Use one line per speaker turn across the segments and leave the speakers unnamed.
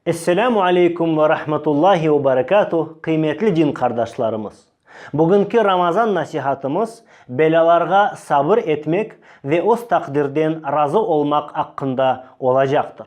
Esselamu aleykum ve rahmetullahi ve berekatuh, qıymetli din qardaşlarımız! Bugünki Ramazan nasihatımız belâlarğa sabır etmek ve öz taqdirden razı olmaq aqqında olacaqtır.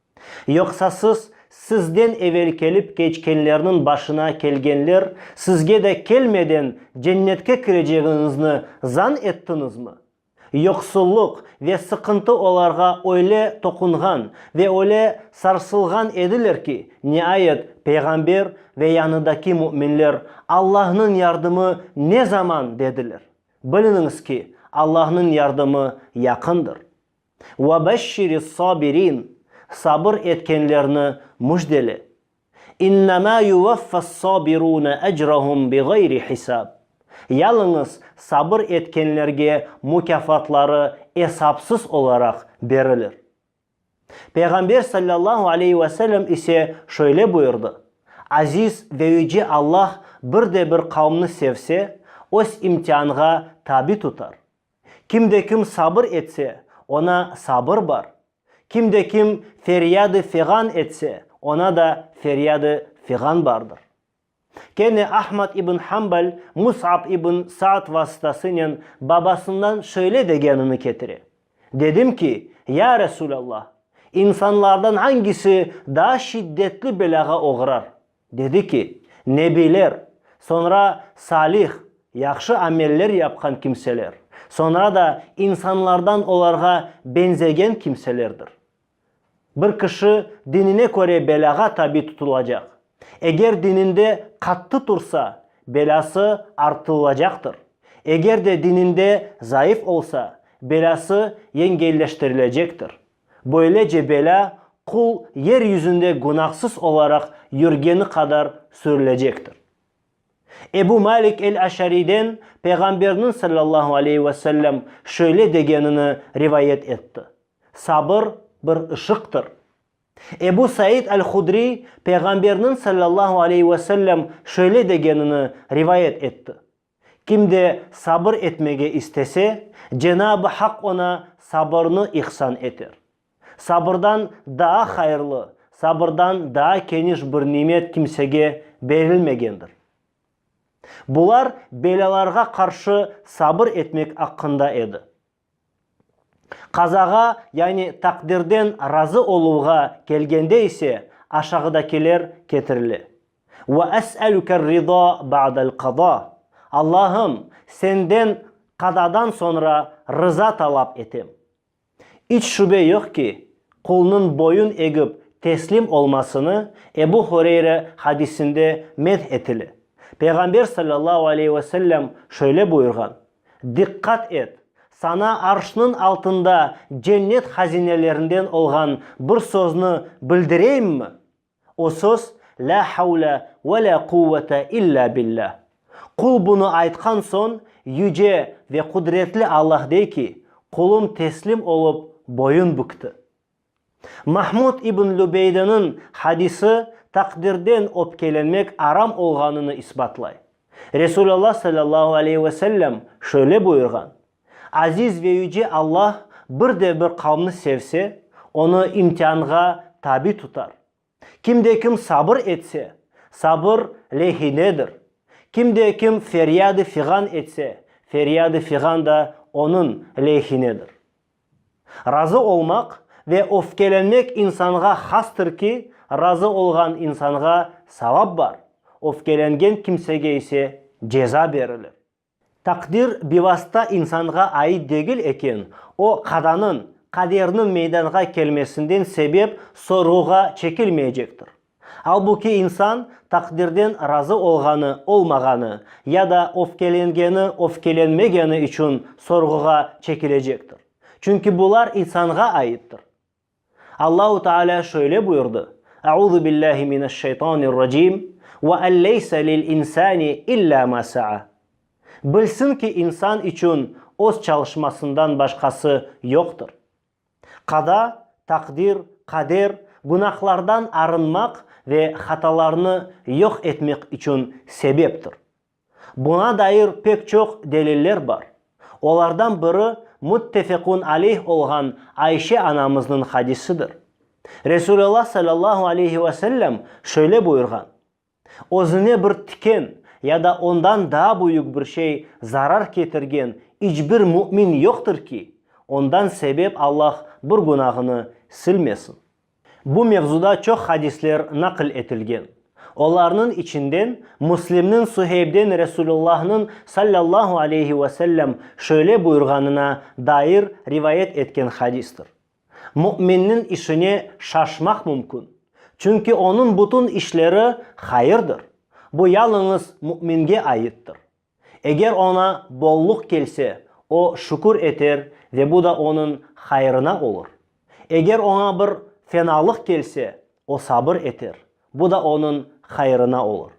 Yoqsa siz, sizden evel kelip keçkenlerniñ başına kelgenler sizge de kelmeden Cennetke kirecegiñizni zan ettiñizmi? Yoqsulluq ve sıqıntı olarğa öyle toqunğan ve öyle sarsılğan ediler ki, niayet Peyğamber ve yanıdaki müminler Allahnıñ yardımı ne zaman dediler. Biliniñiz ki, Allahnıñ yardımı yaqındır. Ve beşşiri's-sabirin, sabır etkenlerni müjdele. İnnemâ yuvaffas-sabirûne ecrahum biğayri hisâb. Yalıñız sabır etkenlerge mukâfatları esapsız olaraq berilir. Peyğamber sallallahu aleyhi ve sellem ise şöyle buyurdı, Aziz ve yüce Allah bir de bir qavmni sevse, öz imtianğa tabi tutar. Kimde-kim sabır etse, oña sabır bar, kimde-kim feryad-ı feğan etse, oña da feryad-ı feğan bardır. Kene Ahmad ibn Hambal Mus'ab ibn Sa'd vasıtasınen babasından şöyle degenini ketire, Dedim ki, Ya Resûlallah, insanlardan angisi daa şiddetli belâğa oğrar, Dedi ki, Nebiler, soñra salih, yahşı ameller yapqan kimseler, soñra da insanlardan olarğa beñzegen kimselerdir. Bir kişi dinine köre belâğa tabi tutulacaq. Eger dininde qattı tursa, belâsı artılılacaqtır, eger de dininde zayıf olsa, belâsı yengelleştirilecektir. Böylece belâ qul yer yüzünde günahsız olaraq yürgeni qadar sürülecektir. Ebu Malik el-Aşariyden Peyğamberniñ, sallallahu aleyhi ve sellem, şöyle degenini rivayet etti, Sabır bir ışıqtır. Ebu Said el-Hudriy Peyğamberniñ, sallallahu aleyhi ve sellem, şöyle degenini rivayet etti, Kim de sabır etmege istese, Cenab-ı Hak oña sabırnı ihsan eter. Sabırdan daa hayırlı, sabırdan daa keniş bir nimet kimsege berilmegendir. Bular belâlarğa qarşı sabır etmek aqqında edi. Qazağa, yani taqdirden razı oluvğa kelgende ise, aşağıdakiler ketirile, Ve es'elüker rıza ba'del qada, Allahım, Senden qadadan soñra rıza talap etem. İç şübe yoq ki, qulnıñ boyun egip teslim olmasını Ebu Hureyre hadisinde medh etile. Peyğamber sallallahu aleyhi ve sellem şöyle buyurğan, Diqqat et! Saña arşnıñ altında cennet hazinelerinden olğan bir sözni bildireyimmi? O söz, Lâ havle ve lâ quvvete illâ billâ. Qul bunı aytqan soñ, Yüce ve Qudretli Allah dey ki, Qulum teslim olıp boyun bükti. Mahmud ibn Lübeydeniñ hadisi taqdirden öpkelenmek aram olğanını isbatlay. Resulallah sallallahu aleyhi ve sellem şöyle buyurğan, Aziz ve yüce Allah bir de bir qavmni sevse, onı imtianğa tabi tutar. Kim de kim sabır etse, sabır lehinedir, kim de kim feryad-ı fiğan etse, feryad-ı fiğan da onıñ lehinedir. Razı olmaq ve öfkelenmek insanğa hastır ki, razı olğan insanğa savap bar, öfkelengen kimsege ise ceza berilir. Taqdir bivasta insanğa ait degil eken, o, qadanıñ, qaderniñ meydanğa kelmesinden sebep sorğuğa çekilmeycektir. Albuki insan taqdirden razı olğanı, olmağanı, ya da öfkelengeni, öfkelenmegeni içün sorğuğa çekilecektir. Çünki bular insanğa aittir. Allahu Taalâ şöyle buyurdı, Euzu billahi mineşşeytanirracim, Ve en leyse lil insani illa ma sa'a. Bilsin ki, insan içün öz çalışmasından başqası yoqtır. Qada, taqdir, qader, günahlardan arınmaq ve hatalarnı yoq etmek içün sebeptir. Buña dair pek çoq deliller bar. Olardan biri müttefekun aleyh olğan Ayşe anamıznıñ hadisidir. Resulallah sallallahu aleyhi ve sellem şöyle buyurğan, Özüne bir tiken ya da ondan daa büyük bir şey zarar ketirgen iç bir mümin yoqtır ki, ondan sebep Allah bir günahını silmesin. Bu mevzuda çoq hadisler naql etilgen. Olarnıñ içinden Müslimniñ Suheybden Resulullahnıñ sallallahu aleyhi ve sellem şöyle buyurğanına dair rivayet etken hadistir, Müminniñ işine şaşmaq mümkün, çünki onıñ bütün işleri hayırdır, bu yalıñız müminge aittir. Eger oña bolluq kelse, o, şükür eter ve bu da onıñ hayırına olur. Eger oña bir fenalıq kelse, o sabır eter, bu da onıñ hayırına olur.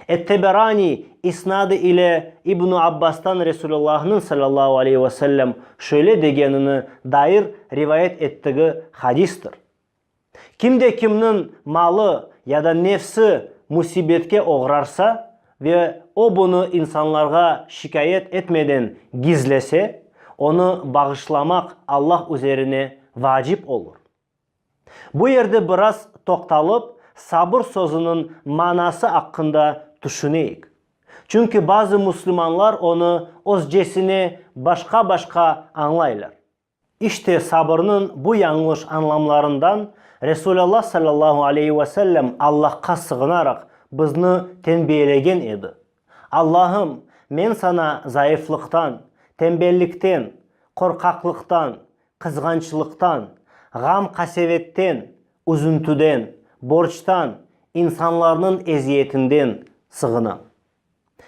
Et-Teberaniy isnadı ile İbn-i Abbastan Resulullahnıñ sallallahu aleyhi ve sellem şöyle degenine dair rivayet ettigi hadistir. Kim de kimniñ malı ya da nefsi musibetke oğrarsa ve o bunı insanlarğa şikâyet etmeden gizlese, onı bağışlamaq Allah üzerine vacip olur. Bu yerde biraz toqtalıp, sabır sözüniñ manası aqqında tüşüneyik. Çünki bazı müslümanlar onı özcesine başqa-başqa añlaylar. İşte, sabırnıñ bu yañlış añlamlarından Resulalla sallallahu aleyhi ve sellem Allahqa sığınaraq bizni tenbiyelegen edi, Allahım, men saña zayıflıqtan, tembellikten, qorqaqlıqtan, qızğançlıqtan, ğam-qasevetten, üzüntüden, borçtan, insanlarnıñ eziyetinden sığınam.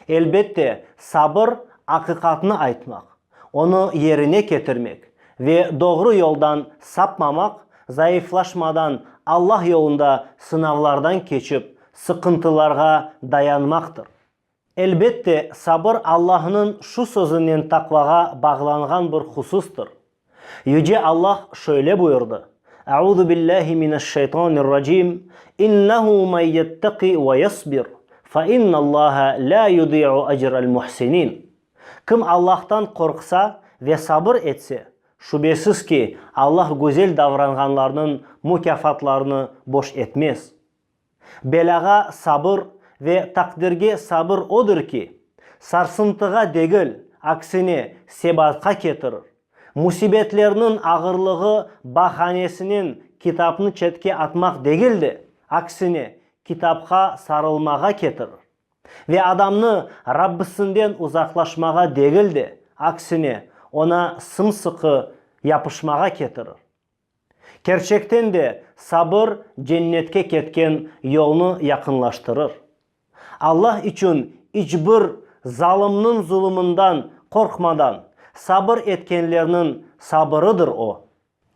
Elbette, sabır, aqiqatnı aytmaq, onı yerine ketirmek ve doğru yoldan sapmamaq, zayıflaşmadan, Allah yolunda sınavlardan keçip, sıqıntılarğa dayanmaqtır. Elbette, sabır Allahnıñ şu sözünen taqvağa bağlanğan bir hususdır, Yüce Allah şöyle buyurdı, Euzubillâhi mineşşeytanirracim, İnnehu men yetteki ve yesbir, fe innallâhe lâ yudi'u ecrel muhsinin, Kim Allahtan qorqsa ve sabır etse, şübesiz ki, Allah güzel davranğanlarnıñ mukâfatlarını boş etmez. Belâğa sabır ve taqdirge sabır odır ki, sarsıntığa degil, aksine, sebatqa ketirir. Musibetlerniñ ağırlığı bahanesinen kitapnı çetke atmaq degil de, aksine, kitapqa sarılmağa ketirir. Ve adamnı Rabbisinden uzaqlaşmağa degil de, aksine, oña sımsıqı yapışmağa ketirir. Kerçekten de, sabır cennetke ketken yolnı yaqınlaştırır. Alla içün iç bir zalımnıñ zulumından qorqmadan sabır etkenlerniñ sabırıdır o.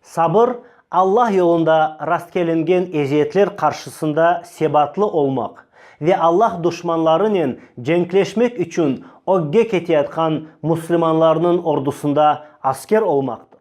Sabır, Alla yolunda rastkelingen eziyetler qarşısında sebatlı olmaq ve Alla duşmanlarınen cenkleşmek içün ögge keteyatqan müslümanlarnıñ ordusında asker olmaqtır.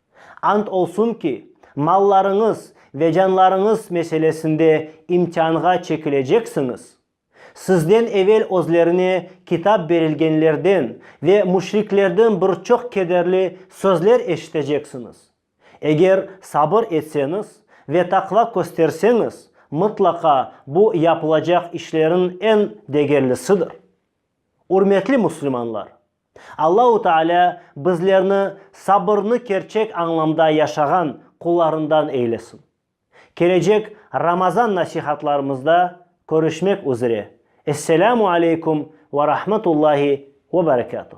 Ant olsun ki, mallarıñız ve canlarıñız meselesinde imtianğa çekileceksiñiz. Sizden evel özlerine Kitap berilgenlerden ve müşriklerden bir çoq kederli sözler eşiteceksiñiz. Eger sabır etseñiz ve taqva kösterseñiz, mıtlaqa bu yapılacaq işleriñ eñ degerlisidir. Ürmetli müslümanlar! Allahu Taalâ bizlerni sabırnı kerçek añlamda yaşağan qullarından eylesin. Kelecek Ramazan nasihatlarımızda körüşmek üzre. Esselâmu aleykum ve rahmetullahi ve berekâtuh.